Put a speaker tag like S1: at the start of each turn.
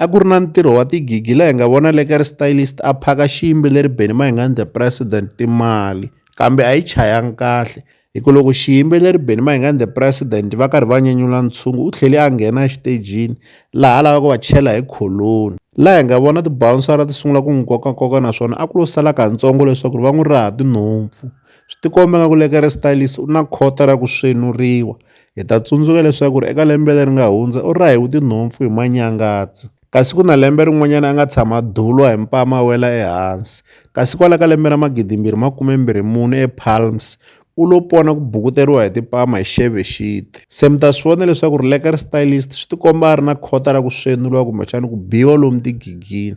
S1: A ku ri na ntirho wa tigigi laha hi nga vona le ka ri stylist a phaka xiyimbi leri Benny Mayengani the president timali kambe a yi chayanga kahle hi ku loko xiyimbi leri Benny Mayengani the president va karhi va nyanyula ntshungu u tlhele a nghena exitejini laha a lavaka ku va chela hi kholoni laha hi nga vona tibawunsara ti sungula ku n'wi kokakoka naswona a ku lo sala kantsongo leswaku ri va n'wi raha tinhompfu Swi tikomba nga ku le ka ri stylist u na khota ra ku svenuriwa. Hi ta tsundzuka leswaku ri eka lembe leri nga hundza u rahe vutinhompfu hi manyangatsi. Kasi ku na lembe rin'wanyana a nga tshama dulwa hi mpama a wela ehansi. Kasi kwala ka lembe ra magidimbirhi makume mbirhi mune ePalms, u lo pona ku bukuteriwa hi tipama hi Xebe Xiti. Se mi ta swi vona leswaku ri le ka ri stylist swi tikomba a ri na khota ra ku svenuriwa kumbexana ku biwa lomu tigigini.